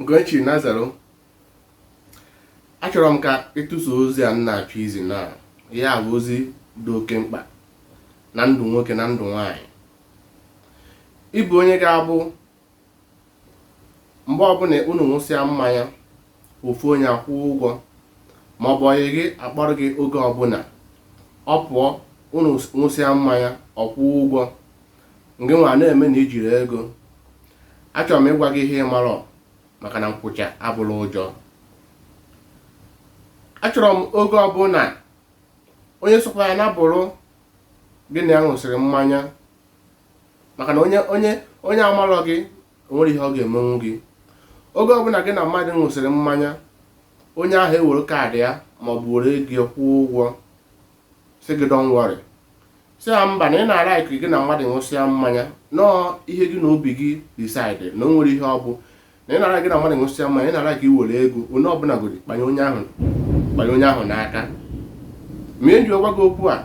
Ugochi Nazaro achọrọ m ka ị tụsa ozi a m na-achọ izi na ya bụ ozi dị oke mkpa na ndụ nwoke na ndụ nwanyị ịbụ onye ga-abụ mgbe ọbụla unu ṅụsịa mmanya ofu onye akwụọ ụgwọ ma ọ bụ enyi gị akpọrọ gị oge ọbụla ọ pụọ unu ṅụsịa mmanya ọ kwụọ ụgwọ ngị nwa na-eme na ijiri ego achọrọ m ịgwa gị ihe ị marọ maka na nkwụcha abụrọ ụjọ achọrọ m oge ọbụla onye sokwa ya nabụrụ gị na ya ṅụsịrị mmanya maka na onye onye onye amarọ gị onwere ihe ọ ga-emenwu gị oge ọbụla gị na mmadụ ṅụsịrị mmanya onye ahụ ewere kaadị ya ma ọ bụ were ego ya kwụọ ụgwọ sị gị don't worry sị ya mba na ị na-alike gị na mmadụ ṅụsịa mmanya na ọ ihe gị na obi gị decide na o nwerọ ihe ọ bụ na ị na-alike gị na mmadụ ṅụsịa mmanya ị na-alike iwere ego onye ọbụla godi kpanye onye ahụ kpanye onye ahụ n'aka ma eji gwa gị okwu a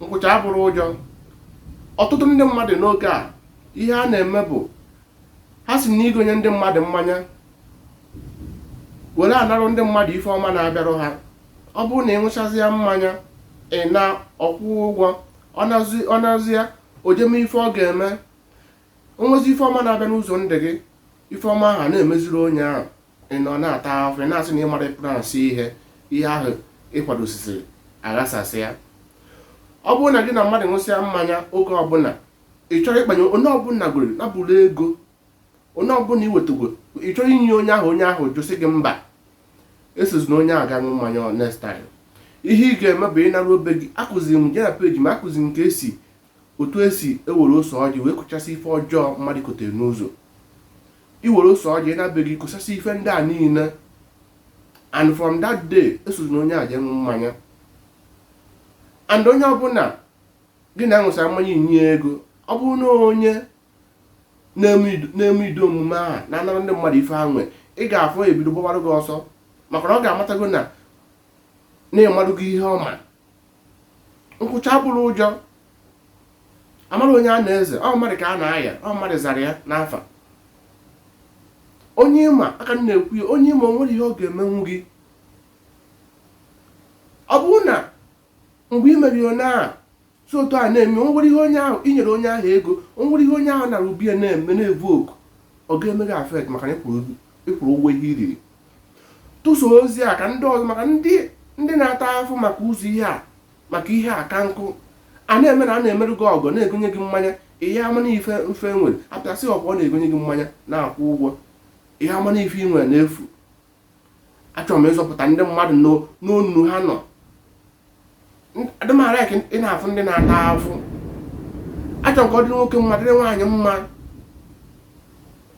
nkwụcha abụrọ ụjọ ọtụtụ ndị mmadụ n'oge a ihe ha na-eme bụ ha si na igonye ndị mmadụ mmanya were anarụ ndị mmadụ ife ọma na-abịarụ ha ọ bụrụ na ị ṅụchazịa mmanya ị na ọ kwụọ ụgwọ ọ nazịa o je mee ife ọ ga-eme onwezi ife ọma na-abịa n'ụzọ ndụ gị ife ọma ahụ na-emeziri onye ahụ ị nọ na-ata ahụhụ ị na-asị na ị mara plans ihe ihe ahụ ị kwadosiri aghasasịa ọ bụrụ na gị na mmadụ ṅụsịa mmanya oge ọbụla ị chọrọ ịkpanye onye ọbụla gụrụ nabụrụ ego onye ọbụla iwetago ị chọrọ inye onye ahụ onye ahụ jụ sị gị mba esozina onye ahụ ga ṅụ mmanya ọ next time ihe ị ga-eme bụ ị narụ be gị akụziri m jee na page m akụziri m ka esi otu esi ewere ose ọjị wee kụchasị ife ọjọọ mmadụ kotere n'ụzọ iwere ose ọjị na be gị kụchasị ife ndị a niile and from that day esozina onye ahụ jee ṅụ mmanya and onye ọbụla gị na ya ṅụsịa mmanya inye ego ọ bụrụ na onye na-eme ụdị omume ahụ na-anara ndị mmadụ ife ha nwee ị ga-afụ ebido gbawara gị ọsọ maka na ọ ga-amatago na ị marugo ihe ọ ma nkwụcha abụrọ ụjọ amarọ onye a na-eze ọ mmadụ ka a na-aya ọ mmadụ zara ya n'afa onye ịma ka m na-ekwu ya onye ịma o nwere ihe ọ ga-emenwu gị ọ bụrụ na mgbe i meriri onye ahụ si otu a na-eme o nwere ihe onye ahụ i nyere onye ahụ ego o nwere ihe onye ahụ nara ubie na-eme na-evu oku ọ ga-eme gị affect maka na ị kwụrụ ị kwụrụ ụgwọ ihe i riri tụsa ozi a ka ndị ọzọ maka ndị ndị na-ata afụfụ maka ụzọ ihe a maka ihe a ka nkụ a na-eme na a na-emerụ gị ọgọ na-egonye gị mmanya ị ya-ama na ife mfe nwere apịasị ọkwa ọ na-egonye gị mmanya na-akwụ ụgwọ ị ya-ama na ife ị nwere na-efu achọrọ m ịzọpụta ndị mmadụ n'o- n'ọnụ ha nọ N- adị m a-like ị na-afụ ndị na-ata afụfụ achọrọ m ka ọ dịrị nwoke mma dịrị nwaanyị mma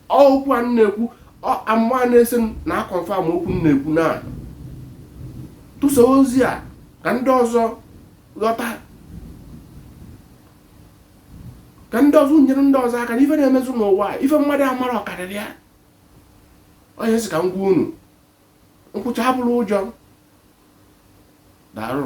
okwu a m na-ekwu ọ- amụma a na-esi m na-aconfirm okwu m na-ekwu na tụsa ozi a ka ndị ọzọ ghọta ka ndị ọzọ nyere ndị ọzọ aka na ife na-emezu n'ụwa a, ife mmadụ amarọ karịrị ya onye sị ka m gwa unu nkwụcha abụrọ ụjọ daalụ